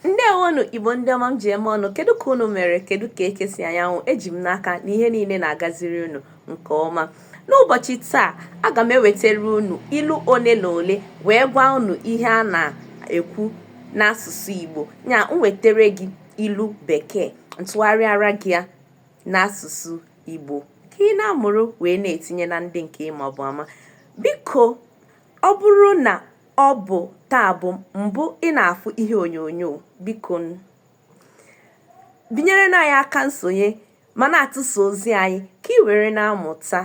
ndewonụ igbo ndị ọma m ji eme ọnụ kedu ka unu mere kedu ka eke si anya anwụ eji m n'aka na ihe niile na-agaziri unu nke ọma n'ụbọchị taa aga m ewetara unu ilu ole na ole wee gwa unu ihe a na-ekwu n'asụsụ igbo ya m wetara gị ilu bekee m tụgharịara gị ya n'asụsụ igbo ka ị na-amụrụ wee na-etinye na ndị nke ị mabu ama biko ọ bụrụ na ọ bụ taa bụ mbụ ị na-afụ ihe onyonyo biko binyerenụ anyị aka nsonye ma na-atụsa ozi anyị ka ị were na-amụta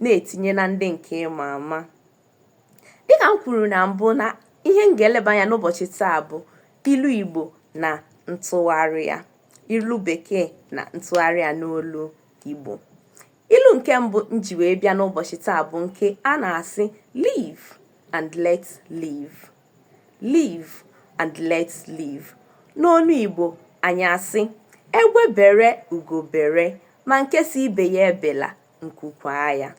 na-etinye na ndị nke ị ma ama dịka m kwuru na mbụ na ihe m ga-eleba anya n'ụbọchị taa bụ ilu igbo na ntụgharị ya ilu bekee na ntụgharị ya n'olu igbo ilu nke mbụ m ji wee bịa n'ụbọchị taa bụ nke a na-asị live and let live live and let live n'olu Igbo anyị asị egbe bere ugo bere ma nke sị ibe ya ebela nku kwaa ya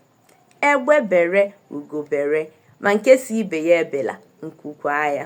egbe bere ugo bere ma nke sị ibe ya ebela nku kwaa ya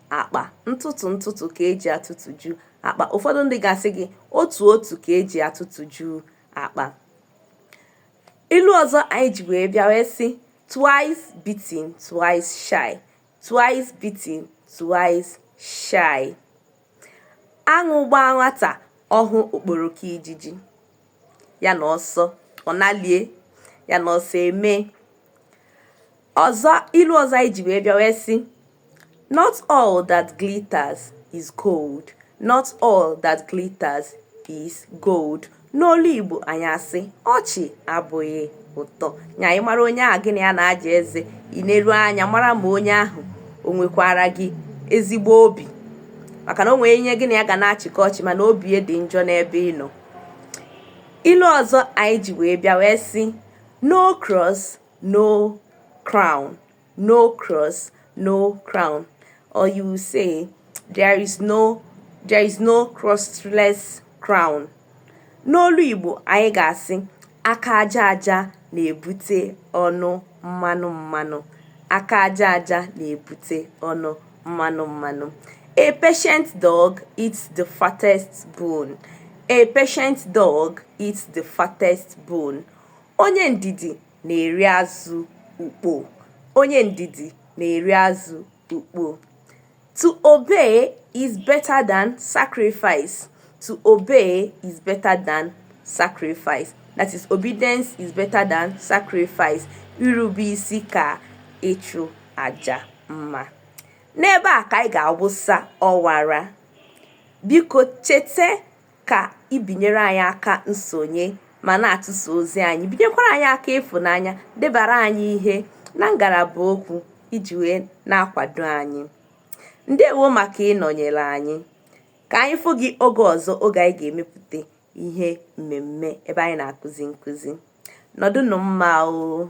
akpa ntụtụ ntụtụ ka eji atụtụju akpa ụfọdụ ndị ga-asị gị otu otu ka eji atụtụju akpa ilu ọzọ anyị ji wee bịa wee sị twice beaten twice shy twice beaten twice shy aṅụ gbaa nwata ọ hụ okporoko ijiji ya na ọsọ ọ nalie ya na ọsọ eme ilu ọzọ anyị ji wee bịa wee sị not all that glitters is gold not all that glitters is gold n'olu igbo anyị asị ọchị abụghị ụtọ nya ị mara onye ahụ gị na ya na-aja eze i neru anya mara ma onye ahụ o nwekwara gị ezigbo obi maka na o nwere onye gị na ya ga na-achịkọ ọchị mana obi ya dị njọ n'ebe ị nọ ilu ọzọ anyị ji wee bịa wee sị no cross no crown no cross no crown or you will say there is no crossless crown n'olu igbo anyị ga-asị aka aja aja na-ebute ọnụ mmanụ mmanụ aka aja aja na-ebute ọnụ mmanụ mmanụ a patient dog eats the fattest bone a patient dog eats the fattest bone onye ndidi na-eri azụ ukpo onye ndidi na-eri azụ ukpo To obey is better than sacrifice. To obey is better than sacrifice. That is, obedience is better than sacrifice. Irube isi ka ịchụ aja mma. N'ebe a ka anyị ga-awụsa ọwara. Biko cheta ka ị binyere anyị aka nsonye ma na-atụsa ozi anyị binyekwara anyị aka ịfụnanya debara anyị ihe na ngalaba okwu iji wee na-akwado anyị ndewo maka ịnọnyere anyị ka anyị fụ gị oge ọzọ oge anyị ga-emepụta ihe mmemme ebe anyị na-akụzi nkụzi nọdụnụ mma o